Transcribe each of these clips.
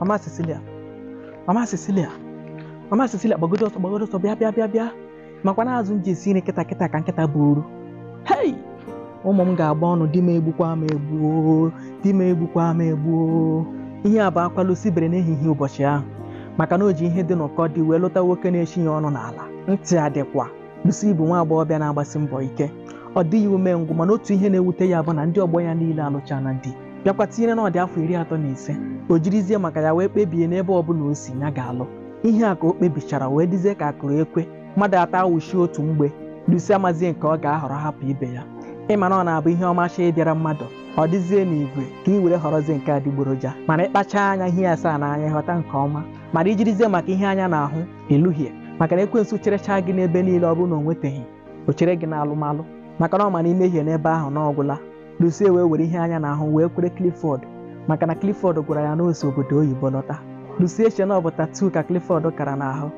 mama Cecilia mama Cecilia mama Cecilia gbagodo ọsọ gbagodo ọsọ bịa bịa bịa bịa makwa na azụ m ji esi nri kịta kịta ka nkịta buru hei ụmụ m ga-agba ọnụ di m egbukwa m egbuo di m egbukwa m egbuo ihe a bụ akwa Lucy bere n'ehihie ụbọchị ahụ maka na o ji ihe dị n'ụkọ di wee lụta nwoke na-echi ya ọnụ n'ala ntị adịkwa Lucy bụ nwa agbọghọbịa na-agbasi mbọ ike ọ dịghị umengwụ mana otu ihe na-ewute ya bụ na ndị ọgbọ ya niile alụchana di bịakwa tinyere na ọ dị afọ iri atọ na ise o jirizie maka ya wee kpebie na ebe ọbụla o si ya ga-alụ ihe a ka o kpebichara wee dịzie ka a kụrụ ekwe mmadụ atọ awụchie otu mgbe Lucy amazie nke ọ ga-ahọrọ hapụ ibe ya ị ma na ọ na-abụ ihe ọma chọọ ịbịara mmadụ ọ dịzie n'igwe ka ị were họrọzie nke adịgboroja mana ị kpacha anya i hie asaa n'anya ghọta nke ọma mana i jirizie maka ihe anya na-ahụ ị lụhie maka na ekwensu cherechaa gị n'ebe niile ọ bụrụ na o nweteghị o chere gị n'alụmalụ maka na ọ ma na i mehie n'ebe ahụ na ọ gwụla Lucy wee were ihe anya na-ahụ wee kwere Clifford maka na Clifford gwara ya na o si obodo oyibo lọta Lucy eche na ọ bụ tattoo ka Clifford kara n'ahụ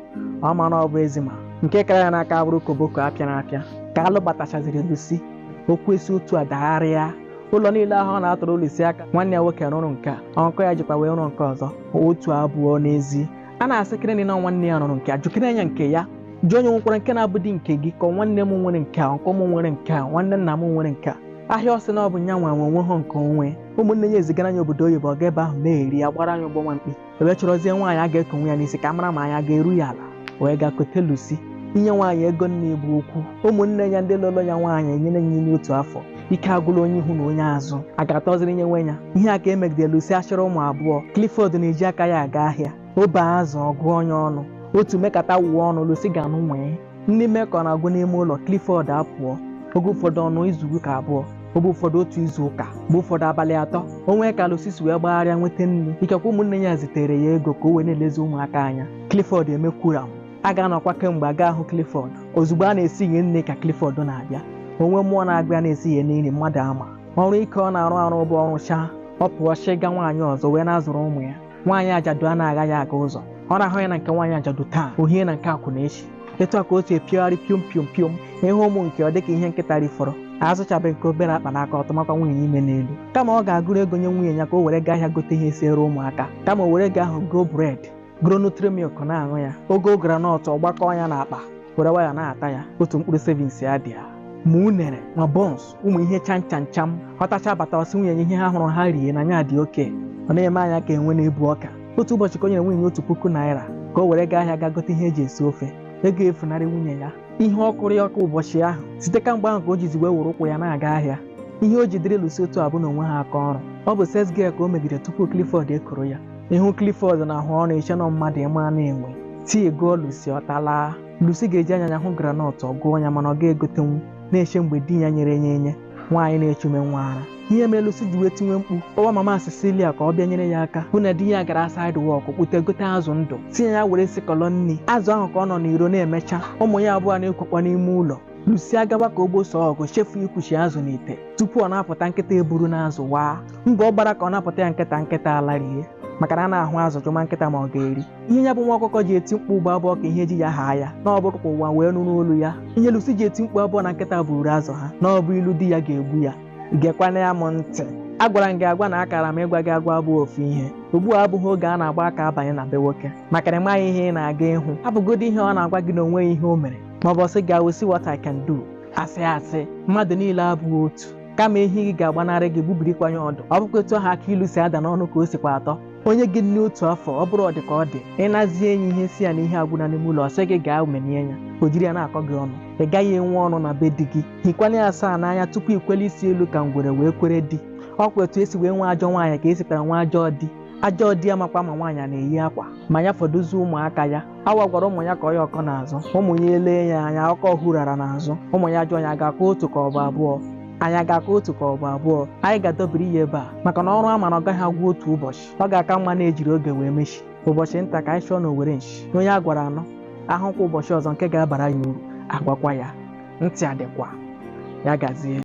ọ ma na ọ bụ eczema nke kara ya n'aka abụrụ koboko apịara apịa ka a lụbatachaziri Lucy okwu esi otu a dagharịa ụlọ niile ahụ ọ na-atụrụ Lucy aka nwanne ya nwoke rụrụ nke a uncle ya jikwa wee rụọ nke ọzọ otu abụọ n'ezi a na-asị kịrịnị na nwanne ya rụrụ nke a jụkịrị nya nke ya jụ onye nwekwara nke na-abụdị nke gị ka nwanne m nwere nke a uncle m nwere nke a nwanne nna m nwere nke a ahịa ọ sị na ọ bụ nya nwa nwe o nweha nke o nwe ụmụnne ya ezigara nya obodo oyibo ọ ga ebe ahụ na-eri ya gbara nya ụgbọ nwa mkpi e wee chọrọzie nwaanyị a ga-ekowe ya n'isi ka a mara ma anya ga-eru ya ala wee gaa kote Lucy inye nwaanyị ego nni bụ okwu ụmụnne ya ndị lụrụ ya nwaanyị enyere ya ime otu afọ ike agwụla onye ihu na onye azụ a ga-atọziri onye nwe ya ihe a ka e megide Lucy achịrị ụmụ abụọ Clifford na-eji aka ya aga ahịa o bee azụ ọ gụọ nya ọnụ otu mekata wuo ọnụ Lucy ga-anụ nwee ndị mekọ na-agụ n'ime ụlọ Clifford apụọ oge ụfọdụ ọ nọọ izu ụka abụọ oge ụfọdụ otu izu ụka mgbe ụfọdụ abalị atọ o nwee ka Lucy si wee gbagharịa nweta nri ikekwe ụmụnne ya ezitere ya ego ka o wee na-elezi ụmụaka anya Clifford emekwura m a ga-anọkwa kemgbe a ga-ahụ Clifford ozugbo a na-esiye nri ka Clifford na-abịa o nwe mmụọ na-agwa ya na e siye nri mmadụ ama ọrụ ike ọ na-arụ arụ bụ ọ rụchaa ọ pụọ chịga nwaanyị ọzọ wee na-azụrụ ụmụ ya nwaanyị ajadu anagha ya aga ụzọ ọ na-ahụ ya na nke nwaanyị ajadu taa o hie na nke akwụna echi etu a ka o si epiogharị piom piom piom ị hụ ụmụ nke ọ dịka ihe nkịta rifọrọ azụchabe nke obere akpa n'aka ọ tụmakwa nwunye ime n'elu kama ọ ga-agụrụ ego nye nwunye ya ka o were gaa ahịa gote ihe siere ụmụaka kama o were ego ahụ goo bread goro Nutri Milk na-aṅụ ya o goo groundnut ọ gbakọọ ya n'akpa were nwayọ na-ata ya otu mkpụrụ sevins ya dị ya ma unere ma buns ụmụ ihe cham cham cham ọ tacha bata ọ sị nwunye ya ihe ha hụrụ ha rie na nya dị okay ọ na-eme anya ka enwe na-ebu ọka otu ụbọchị ka o nyere nwunye ya otu puku naira ka o were gaa ahịa gaa gote ihe e ji esi ofe ego efunarị nwunye ya ihe ọ kụrụ ya ọkụ ụbọchị ahụ site kamgbe ahụ ka o jizi wee were ụkwụ ya na-aga ahịa ihe o ji dịrị Lucy otu a bụ na o nweha aka ọrụ ọ bụ sales girl ka o megide tupu Clifford ekoro ya ị hụ Clifford na-ahụ ọrụ i chee na ọ mmadụ ịma na-enwe tie gụọ Lucy ọ talaa Lucy ga-eji anya ya hụ groundnut ọ gụọ ya mana ọ ga-egotenwu na-eche mgbe di ya nyere ya enye nwaanyị na-echume nwa ara ihe mere Lucy ji wee tiwe mkpu kpọwa mama Cecilia ka ọ bịa nyere ya aka bụ na di ya gara side work kpute gote azụ ndụ sị ya were sikọlọ nri azụ ahụ ka ọ nọ n'iro na-emecha ụmụ ya abụọ na-ekwekwa n'ime ụlọ Lucy agawa ka o gbosoo ọgụ chefuo ikwuchi azụ n'ite tupu ọ na-apụta nkịta eburuna azụ waa mgbe ọ gbara ka ọ napụta ya nkịta nkịta alarị maka na anaghị ahụ azụ jụma nkịta ma ọ ga-eri ihe ya bụ nwa ọkụkọ ji eti mkpu ugbu a abụghị ka ihe ji ya haa ya na ọ bụ ka ụwa wee nụrụ olu ya ihe Lucy ji eti mkpu abụghị na nkịta buru azụ ha na ọ bụ ilu di ya ga-egbu ya gekwana ya m ntị agwara m gị agwa na akara m ịgwa gị agwa abụghị ofu ihe ugbu a abụghị oge a na-agba aka abanye na be nwoke maka na ị maghị ihe ị na-aga ịhụ abụgodi ihe ọ na-agwa gị na o nweghị ihe o mere ma ọ bụ ọ sị gị I will see what I can do asị asị mmadụ niile abụghị otu kama ehi gị ga-agbanarị gị gbubirikwa ya ọdụ ọ bụkwa etu ahụ akị ilu si ada n'ọnụ ka o sikwa atọ o nye gị nri otu afọ ọ bụrụ ọ dị ka ọ dị ị nazie ya ihe sị ya na ihe agwụna n'ime ụlọ ọ sị gị gaa umenie ya o jiri ya na-akọ gị ọnụ ị gaghị enwe ọnụ na be di gị hikwanye ya asaa n'anya tupu i kwelie isi elu ka ngwere wee kwere di ọ kwa etu e si wee nwee ajọ nwaanyị ka e sikwara nwee ajọ di ajọ di amakwa ma nwaanyị a na-eyi akwa ma ya fọdụzie ụmụaka ya awọ gwara ụmụ ya kọọ ya ọkọ n'azụ ụmụ ya elee ya anya ọkọ hurara n'azụ ụmụ ya jụọ ya a ga-akọ otu ka ọ bụ abụọ anyị a ga-akọ otu ka ọ bụ abụọ anyị ga-adọbiri ya ebe a maka na ọrụ a mara ọ gaghị agwụ otu ụbọchị ọ ga-aka mma na e jiri oge wee mechi ụbọchị nta ka anyị chụọ n'owere nchi onye a gwara ọ nụ ahụkwa ụbọchị ọzọ nke ga-abara ya uru agwakwa ya ntị adịkwa ya gazie